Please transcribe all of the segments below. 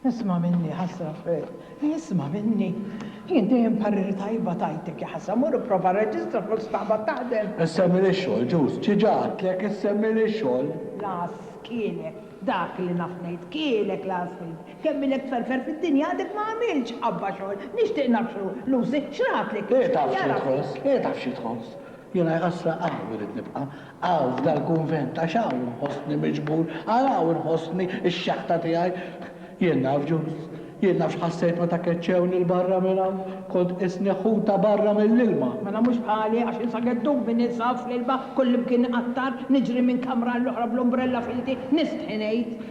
Isma' minni, ħasra Fred. Isma' minni. Jien dejjem pariri tajba tajtek, ja ħasra. Mur ipprova rreġistra flok staqbad taħdem. Issemmili x-xogħol, ġust. Xi ġa għedtlek, issemmili x-xogħol. L-għas kielek. Dak li naf ngħid. Kielek l-għas Fred. Kemm ilek tferfer fid-dinja għadek ma għamiltx qabba xogħol. Nixtieq naf x'hu. Lucy, x'ratlek? Hi taf xi tħoss. Hi taf xi tħoss. Jiena, ja ħasra, qatt ma ridt nibqa'. Hawn f'dal-kunvent, għax hawn inħossni miġbur, għal hawn inħossni x-xaħta tiegħi. Jien naf, Ġuż, jien naf x'ħassejt meta keċċewni 'l barra minn hawn. Kont qisni ħuta barra mill-ilma. Mela mhux bħali, għax insa geddubni ninsab fl-ilma kullimkien aktar, niġri minn kamra għall-oħra bl-umbrella f'idi, nistħi ngħid.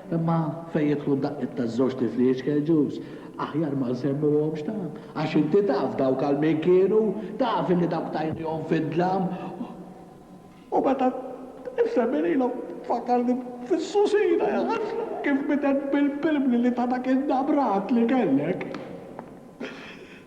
Imma fejn jidħlu d-daqqiet taż-żewġ tifli iċkeġuż, aħjar ma nsemmuhomx taf, għax inti taf dawk għal min kienu, taf illi dawk tajniehom fid-dlam u meta nsemmi lilhom tfakkarni fis-Susina, ja ħasra, kif bidet bil-pilpli li ta dak in-nabrat li kellek.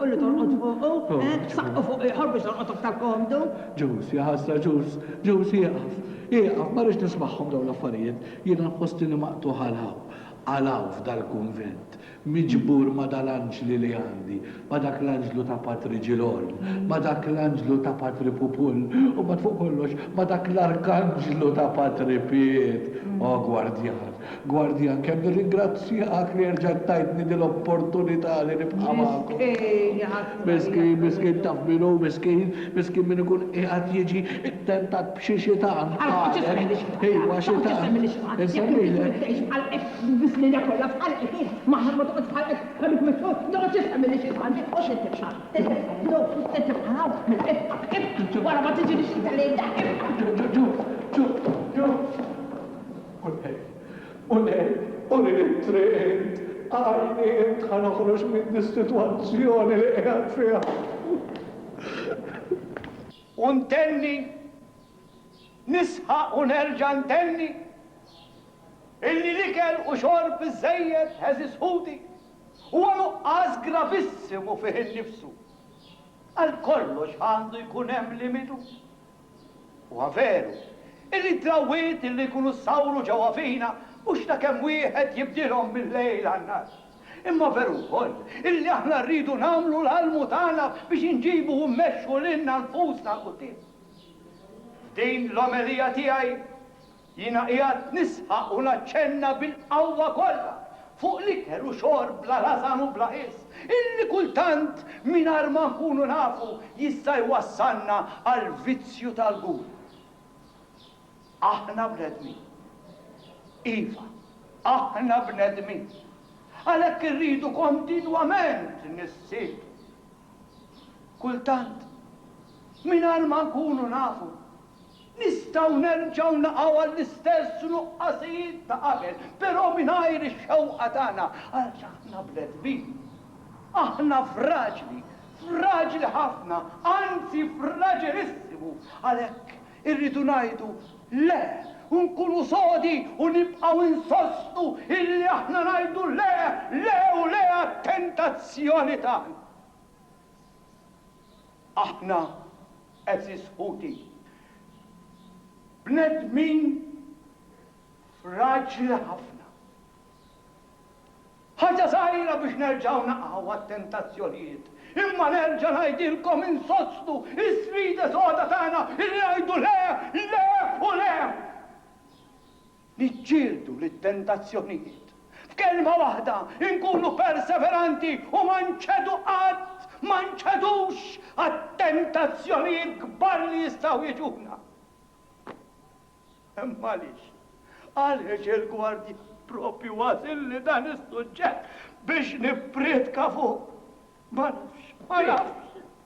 u li torqod fuqu, eh, saqqu fuq ieħor biex torqod aktar komdu. Ġuż, ja ħasra Ġuż, Ġuż ieqaf, ieqaf, ma rridx nismagħhom dawn l-affarijiet, jiena nħossni maqtugħ għal hawn, għal hawn f'dal-kunvent, miġbur ma' dal-anġli li għandi, ma' dak l-anġlu ta' Patri Ġilorn, ma' dak l-anġlu ta' Patri Pupull, u mbagħad fuq kollox ma' dak l-arkanġlu ta' Patri Piet, o gwardjan! Guardian, kemm nirringrazzjak li erġajt tajtni din l-opportunità li nibqa' magħkom. Miskin, ja ħasra. Miskin, miskin taf min hu miskin? Miskin min ikun qiegħed jiġi ttentat b'xi xitan bħalek. Iwa, xitan. Insemmilek. Ġuż, ġuż, ġuż. U ngħid, u ngħid, Urini t-triq int, għajni int ħa noħroġ minn dis-sitwazzjoni li qiegħed fiha. U ntenni, nisħaq u nerġa' ntenni, illi l-ikel u xorb biżżejjed, għeżież ħuti, huwa nuqqas gravissimu fih innifsu. Għal kollox għandu jkun hemm limitu. Huwa veru, illi d-drawwiet illi jkunu ssawru ġewwa fina mhux ta' kemm wieħed jibdilhom mil-lejl għan-nhar. Imma veru wkoll illi aħna rridu nagħmlu l-almu tagħna biex inġibu u mmexxu lilna nfusna 'l quddiem. F'din l-omelija tiegħi Jiena qiegħed nisħaq u naċċenna bil-qawwa kollha fuq l-ikel u xorb bla rażan u bla ħiss, illi kultant, mingħajr ma nkunu nafu, jista' jwassalna għall-vizzju tal-gula. Aħna bnedmin. Iva, aħna bnedmin. Għalhekk irridu kontinwament nissieltu. Kultant, mingħajr ma nkunu nafu, Nistgħu nerġgħu naqgħu għall-istess nuqqasijiet ta' qabel, però mingħajr ix-xewqa tagħna, għaliex aħna bnedmin. Aħna fraġli, fraġli ħafna, anzi fraġilissimu. Għalhekk irridu ngħidu le u nkunu sodi u nibqgħu insostnu illi aħna ngħidu le, le u le għat-tentazzjoni tagħna. Aħna, għeżież ħuti, bnedmin fraġli ħafna. Ħaġa żgħira biex nerġgħu naqgħu għat-tentazzjonijiet. Imma nerġa' ngħidilkom insostnu s-sfida soda tagħna li ngħidu le, le u le! Niġġieldu lit-tentazzjonijiet. F'kelma waħda, inkunu perseveranti u ma nċedu qatt, ma nċedux għat-tentazzjonijiet kbar li jistgħu jiġuna. Imma għaliex? Għaliex il-Gwardjan proprju għażilli dan is-suġġett biex nippriedka fuqu? Ma nafx, ma nafx.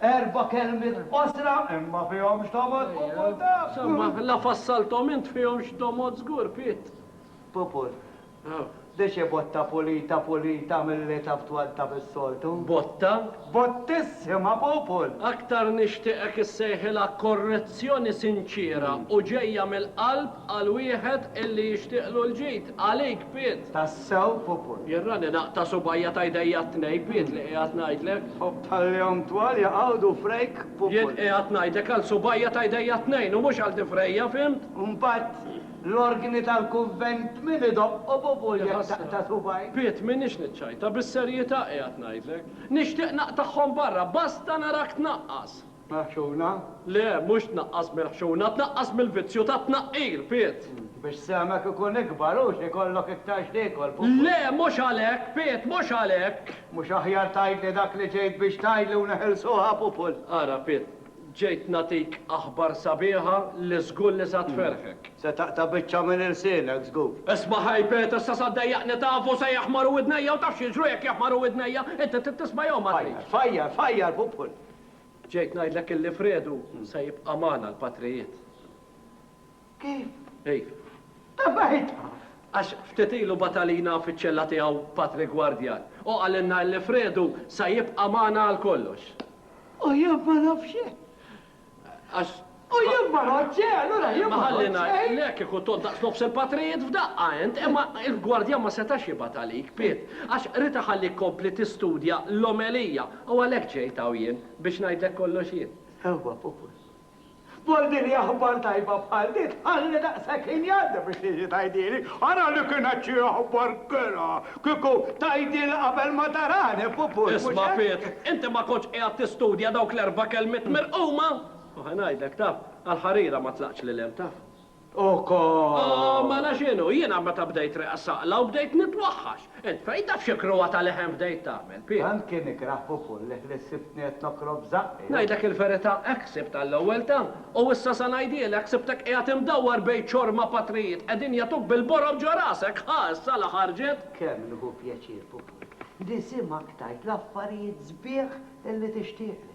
Erba' kelmiet qosra, imma fihom x'domod, Pupur taf! Insomma, la fassalthom int fihom x'domod żgur, Piet. Pupur, dici botta pulita pulita milli taf twantaf is-soltu? Botta? Bottissima, Pupur! Aktar nixtieqek issejħilha korrezzjoni sinċiera u ġejja mill-qalb Qal wieħed illi jixtieqlu l-ġid. Għalik, Piet! Tassew popol. Jirrani naqta' subgħajja ta' jdejja t-tnejn, Piet, li qiegħed ngħidlek. Ħobb tal-lehom twal jaqgħudu frejk, popol. Jien qiegħed ngħidlek għal subgħajja ta' jdejja t-tnejn u mhux għal din frejja, fhimt? Mbagħad l-orgni tal-kunvent min idoqqu, popol, jekk taqta' subgħajk? Piet, m'iniex niċċajta, bis-serjità qiegħed ngħidlek. Nixtieq naqtagħhom barra, basta narak tnaqqas! Meħxuna? Le, mhux tnaqqas meħxuna, tnaqqas mill-vizzju tat-tnaqqir, Piet! Biex sehmek ikun ikbar u ikollok iktar x'tiekol, Pupu. Le, mhux għalhekk, Piet, mhux għalhekk! Mhux aħjar tgħidli dak li ġejt biex tgħidli u neħilsuha, Pupu? Ara, Piet, ġejt nagħtik aħbar sabiħa li żgur li sa tferrħek. Se taqta' biċċa minn ilsienek, żgur. Isma' ħaj, Piet, issa sa ddejjaqni taf u se jaħmaru widnejja u taf x'jiġru jekk jaħmaru widnejja. Inti trid tisma' jew ma tridx? Fajjar, fajjar, fajjar, Pupu! Ġejt ngħidlek illi Fredu se jibqa' magħna l-patrijiet. Kif? Kif? Ta' saħitha! Għax ftit ilu bagħat għalina fiċ-ċella tiegħu Patri Gwardjan u qalilna illi Fredu se jibqa' magħna għal kollox. U jien ma nafx hekk! Għax U jien ma ngħoddx xejn, allura jien ma ngħoddx xejn! Le, kieku tgħodd daqs nofs il-patrijiet f'daqqa int! Imma il-gwardjan ma setax jibgħat għalik, Piet, għax ridt iħallik tkompli tistudja l-omelija, u għalhekk ġejt hawn jien, biex ngħidlek kollox jien. Sewwa, Pupus. B'ordni aħbar tajba bħal din tħalli daqshekk ħin jgħaddi biex tiġi tgħidhieli? Ara li kienet xi aħbar kerha! Kieku tgħidhieli qabel ma tarani, Pupus, mhux hekk? Isma', Piet, inti ma kontx qiegħed tistudja dawk l-erba' kelmiet mirquma? U ħa ngħidlek, taf, għall-ħarira ma tlaqtx lil hemm, taf. Ukoll! Oh, mela x'inhu, jiena meta bdejt riqqa saqla u bdejt nitwaħħax. Int fejn taf xi krua ta' leħen bdejt tagħmel, Pier? Tant kien ikrah Pupulliħ li ssibtni qed nokrob b'żaqqi. Ngħidlek il-verità, hekk sibt għall-ewwel, taf. U issa sa ngħidhielek, sibtek qiegħed imdawwar bejn ċorma patrijiet, qegħdin jagħtuk bil-borob ġo rasek, ħa issa la ħarġet? Kemm nieħu pjaċir, Pupulliħ, nisimgħek tgħid l-affarijiet sbieħ li tixtieqli.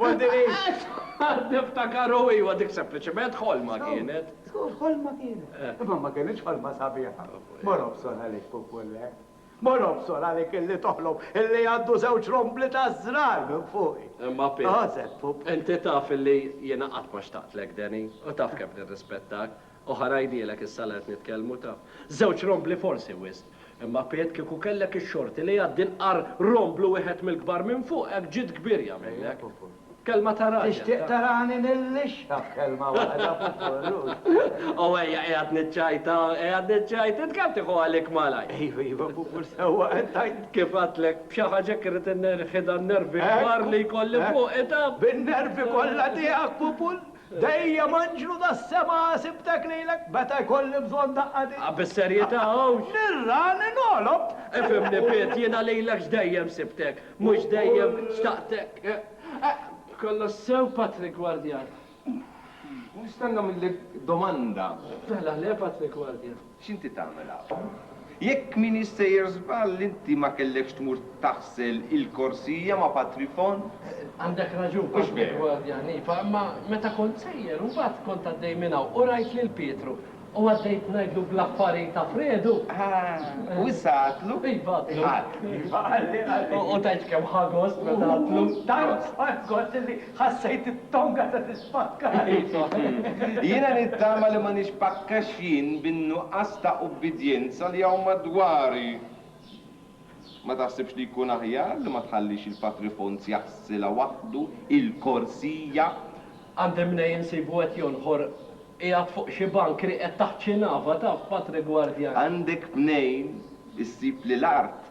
Qed niftakar u iva dik sempliċement ħolma kienet. Żgur ħolma kienet. Imma ma kienitx ħolma sabiħa. Mor obsor għalik pupulle. Mor obsor għalik illi toħlom illi għaddu żewġ rombli taż-żrar minn fuqi. Imma Pip. Għożek pup. Inti taf illi jiena qatt ma xtaqtlek Danny u taf kemm nirrispettak. Oħa ngħidilek issa la qed nitkellmu taf. Żewġ rombli forsi wisq. Imma Piet kieku kellek ix-xorti li jgħaddi nqar romblu wieħed mill-kbar minn fuq hekk ġid kbirja minnek. Kelma ta' raġel taf. Tixtieq tarani nillixxa b'kelma waħda pupu illux. Ow ejja qiegħed niċċajta qiegħed niċċajta int kemm tieħu għalik malajr. Iva iva pupu sewwa qed tgħid. Kif għedtlek b'xi ħaġa hekk irrid innerħi dan nervi kbar li jkolli fuqi taf. Bin-nervi kollha tiegħek pupu. Dejjem anġlu tas-sema sibtek lilek meta jkolli bżonn daqqa din. A bis-serjetà hawnx? Nirra li nogħlob! Ifhimni Piet, jiena lilek x'dejjem sibtek, mhux dejjem xtaqtek. Kollox sew Patrick Gwardjan? Nistenna minnek domanda. Mela le Patrick Gwardjan. X'inti tagħmel hawn? Jekk m'iniex sejjer żball, inti ma kellekx tmur taħsel il-korsija ma' Patri Font? Għandek raġun, kont mill-gwardjan, iva, imma meta kont sejjer, imbagħad kont għaddej minn hawn u rajt lil Pietru u għaddejt ngħidlu bl-affarijiet ta' Fredu. Ah, u issa għadtlu? Iva, għadtlu. Iva, qalli, qalli. U tgħidx kemm ħa gost meta għadtlu. Tant ħa gost illi Ħassejt it-tonga ta' tispakkali. Jiena nittama li ma nispakkax jien bin-nuqqas ta' ubbidjenza li hawn madwari. Ma taħsibx li jkun aħjar li ma tħallix il-Patri Fons jaħsilha waħdu il-korsija? Għandi mnejn insibu qed jonħor qiegħed fuq xi bank rieqed taħt xi nava, taf, Patri Gwardjan. Għandek mnejn issib li l-art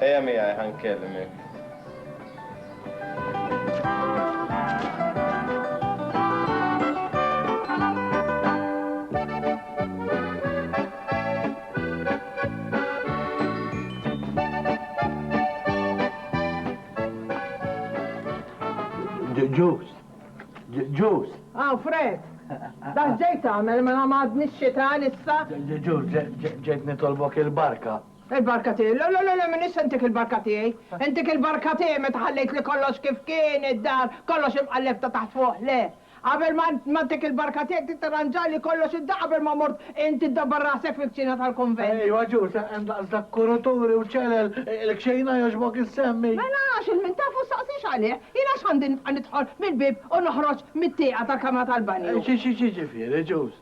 Ejja miegħi ħa nkellimek. Ġus. Ġus. Ah, Fred. Dan ġejt għamel mela ma għadni xita issa. Ġus, ġejt nitolbok il-barka. Il-barka tiegħi, le, le, le, m'iniex se ntik il-barka tiegħi. Intik il-barka tiegħi meta ħallejt li kollox kif kien, id-dar, kollox jibqa' lhekk ta' taħt fuq, le. Qabel ma ntik il-barka tiegħek trid tirranġali kollox id-dar qabel ma mort int iddabbar rasek fil-kċina tal-kunvent. Ejwa ġust, hemm daqs dak kuruturi u ċelel, il-kxejna jogħġbok issemmi? Mela għax il-min taf u ssaqsix għalih. Jien għax għandi nibqa' nidħol mill-bieb u noħroġ mit-tieqa tal-kamra tal-banju? Xi, xi, xi jiġifieri ġust?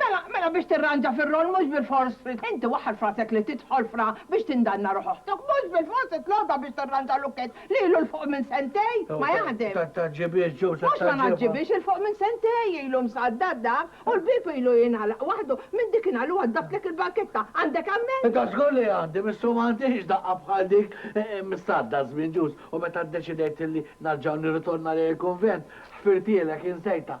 Mela, mela biex tirranġa fir-roll mhux bilfors trid inti waħħal f'rasek li tidħol f'ra biex tindanna ruħ oħtok. Mhux bilfors titlobha biex tirranġa lukkett li ilu 'l fuq minn sentejn ma jaħdem. Tant tgħaġġibhiex Joe, tant tgħaġġibha. Mhux ma ngħaġġibhiex, 'il fuq minn sentejn ilu msaddad dak u l-bieb ilu jingħalaq waħdu minn dik in-nhar li waddaftlek il-banketta. Għandek ammend? Iva żgur li għandi, missu ma għandix daqqa bħal dik msaddad żmien ġust u meta ddeċidejt li narġa' nirritorna lejn il-kunvent, ħfirtielek insejtha.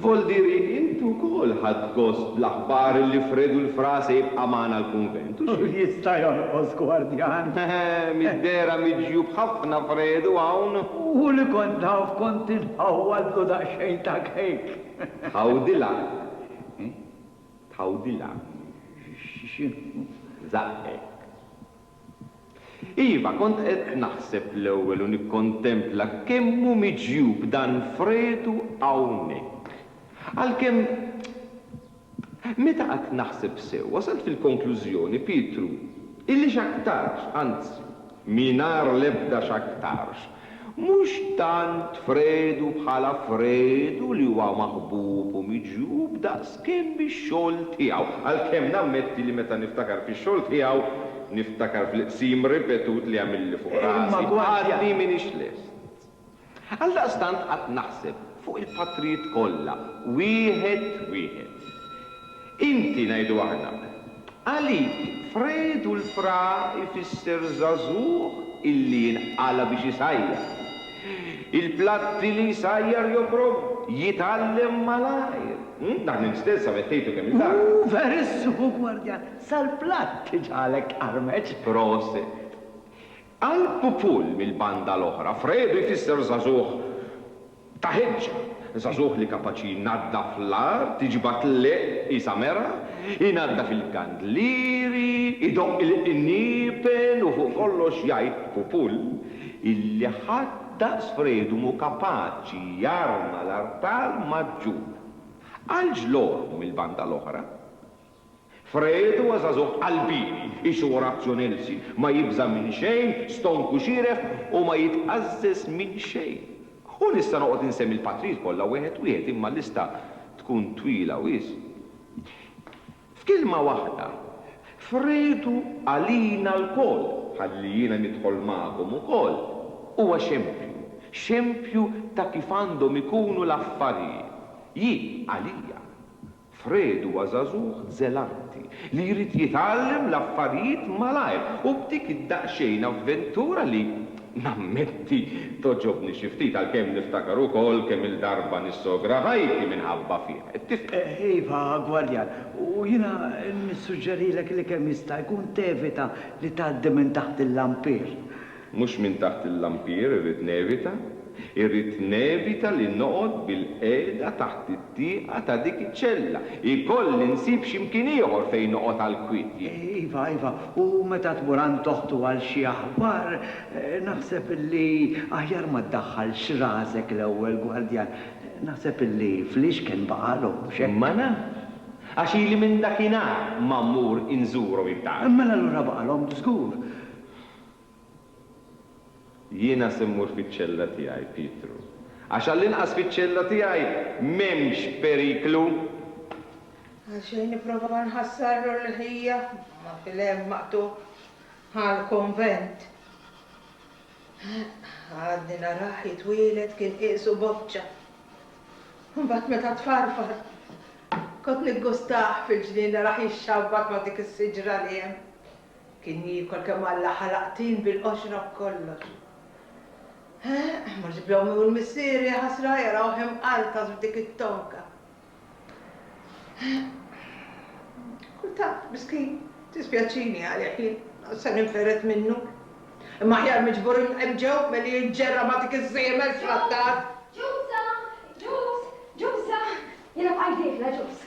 Voldiri, int ukoll ħadt gost bl-aħbar li Fredu l-Fra se jibqa' magħna l-kunvent, u xi? Jista' jonqos gwardjan? Mid-dehra miġjub ħafna Fredu hawn. U li kont naf kont inħawwadlu daqsxejn ta' cake. Tħawdilha? Tħawdilha? X'inhu? Żaqqek. Iva, kont qed naħseb l-ewwel u nikkontempla kemm hu miġjub dan Fredu hawnhekk. Għalkemm, meta qgħadt naħseb sew, wasalt fil-konklużjoni, Pietru, illi x'aktarx, anzi, mingħajr l-ebda x'aktarx, Mhux tant Fredu bħala Fredu li huwa maħbub u miġjub daqskemm bix-xogħol tiegħu. Għalkemm nammetti li meta niftakar fix-xogħol tiegħu, niftakar fil-qsim ripetut li għamilli fuq rasi, għadni m'iniex lest. Għaldaqstant qatt naħseb fuq il-patrijiet kollha, wieħed wieħed. Inti, ngħidu aħna. Għalik, Fred u l-fra jfisser żagħżugħ illi jinqala' biex isajjar. Il-platti li jsajjar joqrom, jitgħallem malajr. Dak li mstel sa mettejtu kemm il-darba. Hu verissmu gwardjan, sal-platt iġagħlek tqarmeċ. Proset. Al Pupul mill-banda l-oħra, Fredu jfisser żagħżugħ ta' ħeġġa, żagħżugħ li kapaċi jnaddaf l-art, iġibha tlieq qisha mergħa, inaddaf il-kandlieri, idoqq il-qniepen u fuq kollox jgħid Pupul illi ħadd daqs Fredu mhu kapaċi jarma l-artal maġġur. Al Ġlormu mill-banda l-oħra, Fred huwa żagħżugħ qalbi, qisu Orazio Nelsi, ma jibża' minn xejn, stonk u xieref u ma jitqażżeż minn xejn. U nista' noqgħod insemmi l-patrijiet kollha wieħed wieħed imma l-lista tkun twila wisq. F'kelma waħda, Fred hu għalina lkoll, ħalli jiena nidħol magħkom ukoll, huwa xempju, xempju ta' kif għandhom ikunu l-affarijiet. Jien, għalija, Fred huwa żagħżugħ żelanti li jrid jitgħallem l-affarijiet malajr u b'dik id-daqsxejn avventura li, nammetti, togħġobni xi ftit għalkemm niftakar ukoll kemm-il darba nissogra ħajti minħabba fih. Tifhem? Iva, gwardjan. U jiena nissuġġerilek li kemm jista' jkun tevita li tgħaddi minn taħt il-lampir. Mhux minn taħt il-lampier irrid nevita, irrid nevita li noqgħod bilqiegħda taħt it-tieqa ta' dik iċ-ċella. Ikolli nsib xi mkien ieħor fejn noqgħod għall-kwiet jien. Iva, iva, u meta tmur għand oħtu għal xi aħbar, naħseb illi aħjar ma ddaħħalx rasek l-ewwel, gwardjan. Naħseb illi flix kien baqagħlhom, mhux hekk? Ma nafx, għax ili minn dakinhar ma mmur inżurhom, intant. Mela allura baqagħlhom żgur. Jiena se mmur fiċ-ċella tiegħi, Pietru, għax għall-inqas fiċ-ċella tiegħi m'hemmx periklu. Għalxejn nipprova nħassar ruħija ma' fil-hemm maqtugħ għall-konvent. Għadni narah jitwieled kien qiesu boċċa. Imbagħad meta tfarfar, kont niggustah fil-ġnien narah jixxabbat ma' dik is-siġra li hemm. Kien jiekol kemm Alla ħalaq tin bil-qoxra b'kollox. Eħ, mhux bl-ommi u l-missier, jaħasra, jarawh imqartas f'dik it-tonka. Eħ. Kultant, miskin, tispjaċini għalih jien, għax se ninfered minnu. Imma aħjar miġbur hemm ġew milli jinġerra ma' dik iż-żiemel fl-attar. Ġuż! Ġuż! Ġuża! Ġuża! Jiena bqajt dieħla, Ġuż.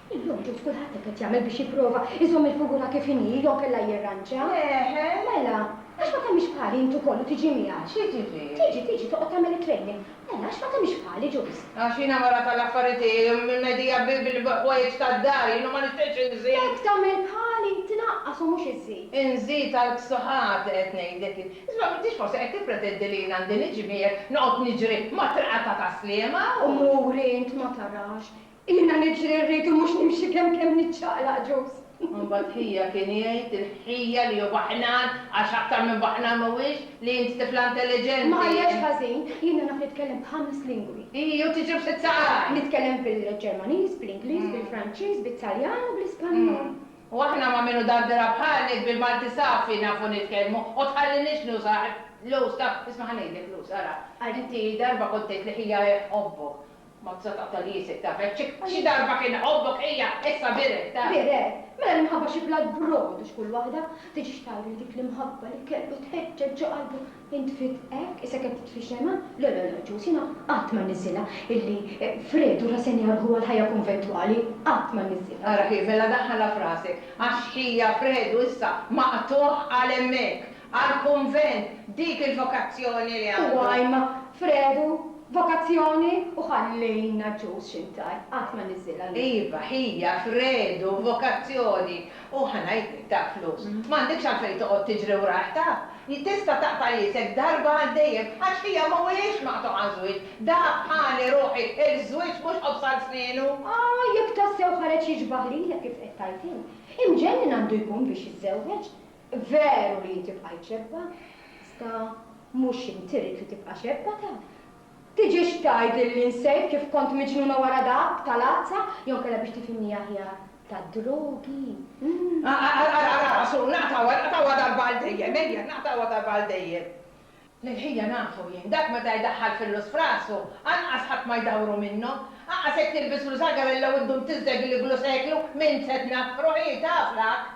Illum kif kulħadd hekk qed jagħmel biex jipprova jżomm il-figura kif inhi jew kellha jirranġa? Eħe. Mela, għax ma tagħmilx bħali int ukoll u tiġi miegħi? Xi tiġi? Tiġi, tiġi, toqgħod tagħmel it-training. Mela, għax ma tagħmilx bħali ġust? Għax jiena mara tal-affarijiet, mimedija bil-ħwejjeġ tad-dar, jiena ma nixtieqx inżid. Jekk tagħmel bħali, tnaqqas u mhux iżżid. Inżid għalk xi ħadd qed ngħidlek int. Isma' m'intix forsi qed tippretendi li jien għandi niġi miegħek noqgħod niġri mat-triqata tas-Sliema u. U mur int ma tarax. Jiena niġri rrid u mhux nimxi kemm kemm niċċaqlaq ġust. Imbagħad ħija kien jgħid il-ħija li hu baħnan għax aktar minn baħnan m'huwiex, li int tifla intelliġenti. Ma għajjarx ħażin, jiena naf nitkellem b'ħames lingwi. Ii, u tiġri b'sitt-saqajn! Nitkellem bil-Ġermaniż, bl-Ingliż, bil-Franċiż, bit-Taljan u bl-Ispanjol. U aħna ma' min hu dardera bħalek bil-Malti safi nafu nitkellmu u tħalliniex nus għax l-usta, isma' ħa ngħidlek l-usta, ara, inti darba kont tgħid li ħija hi tħobbok Mazza ta' taliesek taf hekk xi darba kien iħobbok hija issa biret taf. Biret? Mela l-imħabba xi blat b'rogħod u x'kull waħda tiġix tgħid li dik l-imħabba li kellu tħeġġeġ ġo qalbu intfiet hekk issa kemm titfi xemgħa? Le le le Ġuż jiena qatt ma nniżżilha illi Fredu rrasenja ruħu għall-ħajja kunventwali qatt ma nniżżilha. Ara kif, mela daħħalha f'rasek għax hija Fredu issa maqtugħ għal hemmhekk Għall-kunvent, dik il-vokazzjoni li għandu. Huwa għajm f'redu, vokazzjoni, u ħalli naġġuż xi ntajr, qatt ma niżżilha lil. Iva, hija f'redu, vokazzjoni, u ħa ngħidlek, ta' flus. M'għandekx għalfejn toqgħod tiġri wrah, taf. Tista' taqta' iesek darba għal dejjem, għax hija mhuwiex maqtugħ għaż-żwieġ. Dak bħali, ruħi, il-żwieġ mhux ħobż għal snienu. Ah, jekk tassew ħareġ jiġbaħ lilek kif qed tgħid int, imġennin għandu jkun biex jiżżewweġ. Veru li hi tibqa' jċebba, iżda mhux int irrid li tibqa' xebba taf. Tiġix tgħidilli nsejt kif kont miġnuna wara dak ta' l-għazza, jew inkella biex tifhimni aħjar, tad-drogi, hm? Ara, ara, ara, Għasur, naqtgħuha, naqtgħuha darba għal dejjem, ejja, naqtgħuha darba għal dejjem. L-ħija nafu jien, dak meta jdaħħal fillus f'rasu, anqas ħadd ma jdawru minnu. Anqas jekk tilbislu żagarella u ddum tiżdeg l-iglu seklu, min se tnaffru hi, taf l-għakk.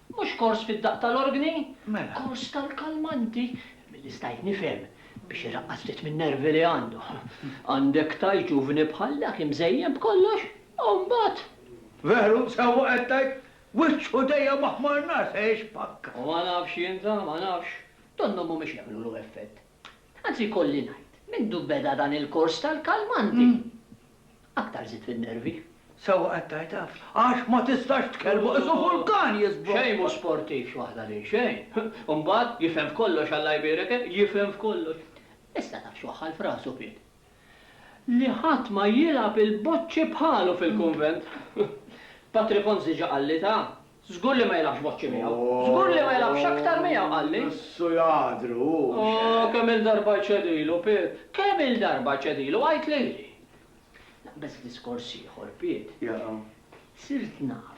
Mhux kors fid-daqq tal-orgni? Mela. Kors tal-kalmanti, milli stajt nifhem, biex iraqqas ftit min-nervi li għandu. Għandek tgħid ġuvni bħal dak imżejjen b'kollox, u mbagħad. Veru, sewwa qed tgħid, wiċċu dejjem aħmar nar se jixpakka. Ma nafx jien ta', ma nafx. Donnhom mhumiex jagħmlulu effett. Tant li jkolli ngħid, mindu beda dan il-kors tal-kalmanti, aktar żidt fin-nervi. Sewwa qed tgħid hekk, għax ma tistax tkellmu, qisu vulkan jiżblokkja! Xejn mhu sportiv xi waħda din, xejn! U mbagħad, jifhem f'kollox Alla jbierek, eh, jifhem f'kollox! Issa taf x'waħħal f'rasu Piet? Li ħadd ma jilgħab il-boċċi bħalu fil-kunvent. Patri Fons diġà qalli ta, żgur li ma jilgħabx boċċi miegħu. Żgur li ma jilgħabx aktar miegħu, qalli. Issu ladru hu, mhux hekk? Oh, kemm-il darba ċedilu, Piet. Kemm-il darba ċedilu, għid lili. Naqbeż diskors ieħor, Piet. Sirt naf.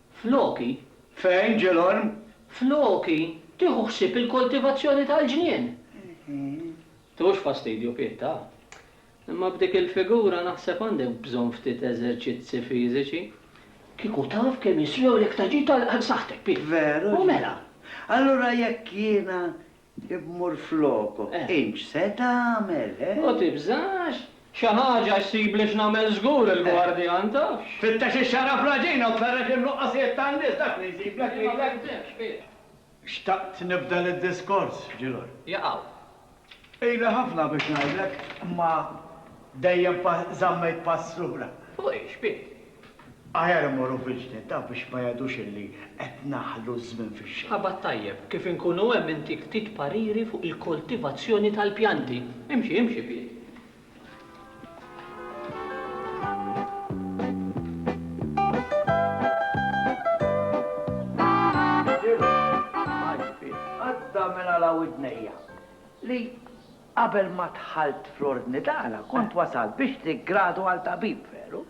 Floki, fejn, Ġilgħorn? Floki, tieħu ħsieb il-koltivazzjoni tal-ġnien! Tiħux fastidju, Pieta, imma b'dik il-figura naħseb għandek bżonn ftit eżerċizzi fiżiċi. Kieku taf kemm jiswewlek ta' ġid għal saħħtek, Piet! Veru, Ġilgħorn. U mela? Allura jekk jiena Immur floku. Int se tagħmel, he? U tibżax? Xi ħaġa ssibli x'nagħmel żgur, il-gwardjan taf. Fittex ix-xagħra fl-għaġina u tferrex in-nuqqasijiet tan-nies, dak li jsiblek lilek. Imma fittex, fiex? Xtaqt nibda lid-diskors, ġi lura. Jaqaw. Ili ħafna biex ngħidlek, imma dejjem żammejt pass lura. Fuq ix, Piet? Aħjar immorru virġni ta' biex ma jgħidux illi qed naħlu ż-żmien fix-xejn. Qabad tajjeb, kif inkunu hemm intik ftit pariri fuq il-koltivazzjoni tal-pjanti. Imxi, imxi pied. Smajt pied, għadda minn għala widnejja li qabel ma dħalt fl-ordni tagħna kont wasalt biex tiggradu għal tabib, veru?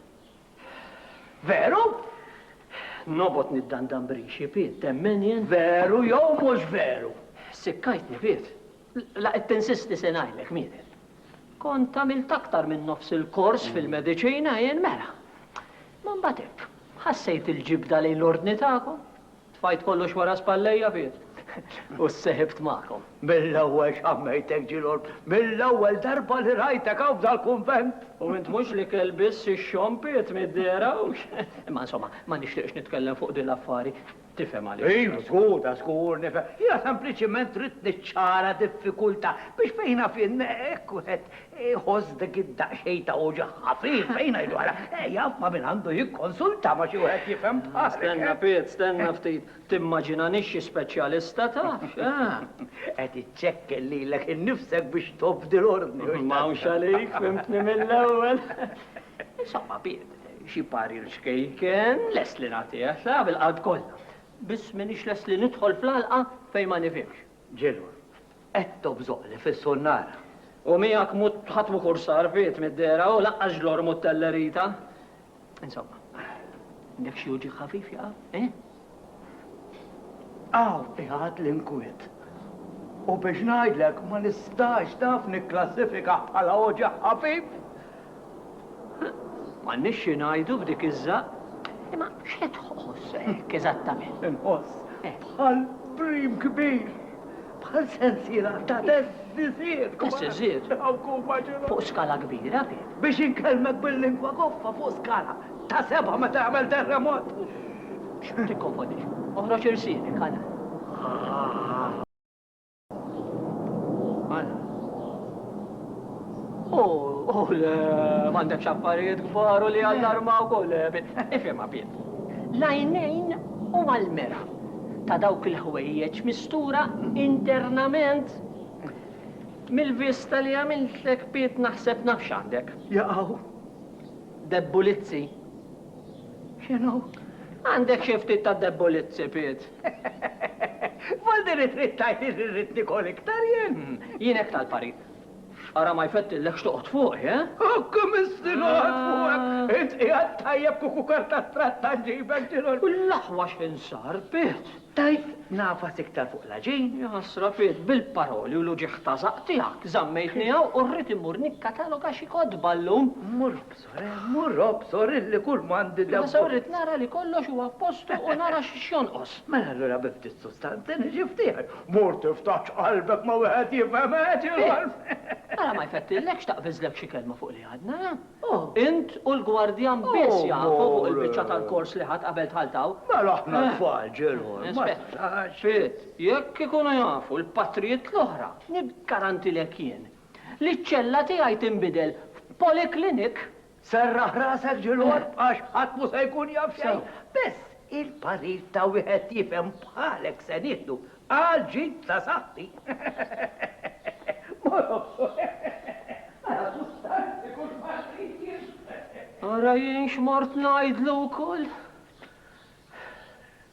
Veru? Nobgħod niddandan b'rixi, Piet, temmen jien? Veru jew mhux veru? Sikkajtni, Piet. La qed tinsisti se ngħidlek, Mieter. Kont għamilt aktar minn nofs il-kors fil-mediċina jien mela. Ma mbagħad hekk, ħassejt il-ġibda lejn l-ordni tagħkom. Tfajt kollox wara spallejja fih u ssejħibt magħkom. Mill-ewwel xammejtek, Ġilgħorb, mill-ewwel darba li rajtek hawn f'dal-kunvent! U int mhux l-ikel biss ixxompiet mid-dehra hawnx. Imma insomma, ma nixtieqx nitkellem fuq din l-affari, tifhem għaliex. Iva, żgur, ta' żgur nifhem. Jiena sempliċiment ridt niċċara diffikultà biex fejn naf jien hekk wieħed Iħoss dik id-daqsxejn ta' uġigħ ħafif fejn ngħidu ara, jaf ma' min għandu jikkonsulta, ma' xi wieħed jifhem bħalek. Stenna, Piet, stenna ftit. Timmaġinanix xi speċjalista, tafx, eh? Qed iċċekken lilek innifsek biex tobdi l-ordni, hux tant? M'hawnx għalik, fhimtni mill-ewwel. Insomma, Piet, xi parir ċkejken lest li nagħtih, għax taf, il-qalb kollha. Biss m'iniex lest li nidħol fl-għalqa fejn ma nifhimx. Ġilwa, qed tobżoqli fis-sunnara. U miegħek mhu ħadd mhu kursar Piet mid-dehra u lanqas ġlorr mhu tellerita. Insomma, għandek xi uġigħ ħafif jaqa', eh? Hawn qiegħed l-inkwiet. U biex ngħidlek ma nistax taf nikklassifika bħala uġigħ ħafif. M'għandniex xi ngħidu b'dik iż-żaqq. Imma x'qed tħoss hekk eżattament? Inħoss eh. bħal brim kbir, bħal sensiela ta' teżżiżiet. Teżżiżiet? Fuq skala kbira kif? Biex inkellmek bil-lingwa goffa fuq skala ta' seba' meta jagħmel terremot. Tikkonfondix. Oħroġ irsienek, ħana. Ah. U le, m'għandekx affarijiet kbar u li jallarmawk u le, Piet. Ifhimha, Piet. L-għajnejn huma l-mera ta' dawk il-ħwejjeġ mistura internament. Mill-vista li għamiltlek, Piet, naħseb naf x'għandek. Jaqaw. Debbulizzi. X'inhu? Għandek xi ftit ta' debbulizzi, Piet. Voldi li trid tgħidli li rrid nikol iktar jien? Jien hekk tal-parir. X'qara ma jfettillekx toqgħod fuqi, eh? Hekk imisti noqgħod fuqek! Int qiegħed tajjeb kieku karta tratta ġġibek ġiel. U l-aħwa x'ħin sar, Piet? Tajt nagħfas iktar fuq l-għaġin? Jaħasra, Piet, bil-paroli u l-uġigħ ta' żaqq tiegħek żammejtni hawn u rrid immur nikkatalog għax xi kotba llum. Mmur Soremmu, Rob, sorilli kull m'għandi debut. Imma se rrid nara li kollox huwa f'postu u nara x'jonqos. Mela allura bi ftit sustanza niġi f'dieħel. Mur tiftaħx qalbek ma' wieħed jifhem hekk, Rolf! Ara ma jfettillekx taqbiżlek xi kelma fuq li għadna, eh? Int u l-gwardjan biss jafu fuq il-biċċa tal-kors li ħadt qabel dħalt hawn. Mela aħna tfal, Ġilħor, ma tarax? Ftit, jekk ikunu jafu l-patrijiet l-oħra, niggarantilek jien, Li ċ-ċella tiegħi tinbidel f'poliklinik? Serraħ rasek ġilgħorb għax ħadd mhu se jkun jaf xejn. Biss il-parir ta' wieħed jifhem bħalek se nieħdu għal ġid ta' saħħti. Ma nafx. Ara sustanzi kull ma trid jien. Ara jien x'mort ngħidlu wkoll.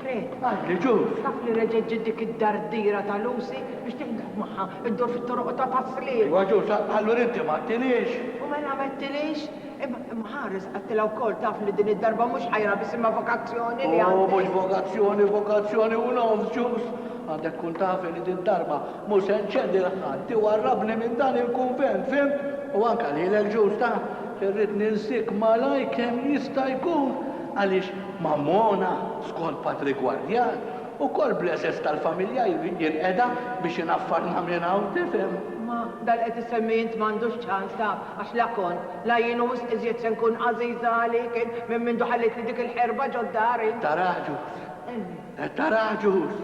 Fred, qalli, Ġuż, taf li reġgħet ġiet dik id-dardira ta' Lucy biex tiħdem magħha, iddur fit-toroq ta' Pasliema? Iva, Ġuż, allura inti ma għedtilhiex? U mela m'għedtilhiex? Imma ħares, għedtilha wkoll, taf li din id-darba mhux ħajra biss imma vokazzjoni li għandi. O, mhux vokazzjoni, vokazzjoni u nofs, Ġuż! Għandek tkun taf li did-darba mhux se nċedi 'l ħadd iwarrabni minn dan il-kunvent, fhimt? U anke lilek, Ġuż, taf li rrid ninsik malajr kemm jista' jkun għaliex Mammona, skont Patri Guardian, ukoll bl-għeżeż tal-familja jrid jinqeda biex inaffarna minn hawn, tifhem? Ma dan li qed issemmi int m'għandux ċans, taf, għax la kont, la jien u wisq iżjed se nkun għażiża għalik int minn mindu ħallitli dik il-ħerba ġod-dar int. Taraha ġus? Qed taraha ġus?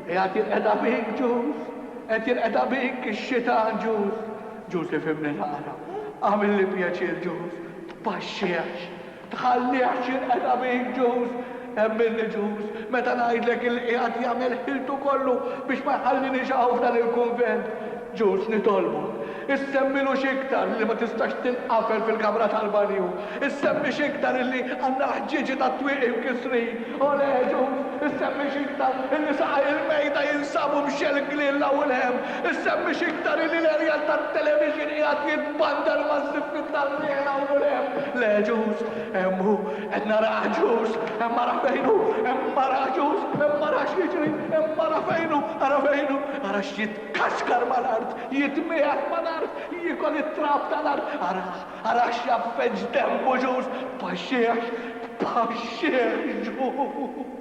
Qiegħed jinqeda bik ġus? Qed jinqeda bik ix-xitan ġus? Ġus ifhimni naqra. Agħmilli pjaċir ġus, tpaxxi għax. Tħallih xirqet abin ġuż. Emmilni ġuż meta ngħidlek illi qiegħed jagħmel ħiltu kollu biex ma jħalliniex hawn f'dan il-kunvent. Ġuż nitolbok, issemmilu x'iktar li ma tistax tinqafel fil-kamra tal-banju. Issemmi x'iktar illi għandna l-ħġieġi tat-twieqi mkissrin. Olè, ġuż, issemmi x'iktar illi saqajh il-mejda jinsabu mxelklin 'l hawn 'l hemm. Isemmi x'iktar illi l-erjal tat-televixin qiegħed jitbandar maż-żiffiet tar-riħ hawn u 'l hemm. Le, ġust, hemm hu, qed narah, ġust, hemm ara fejn hu, hemm ara, ġust, hemm ara x'jiġri, hemm ara fejn hu, ara fejn hu, ara x'jitkaxkar mal-art, jitmiegħed mal-art, jiekol it-trab tal-art, arah, arah x'jgħaffeġ demmu, ġust, tpaxxihx, tpaxxihx, ġust.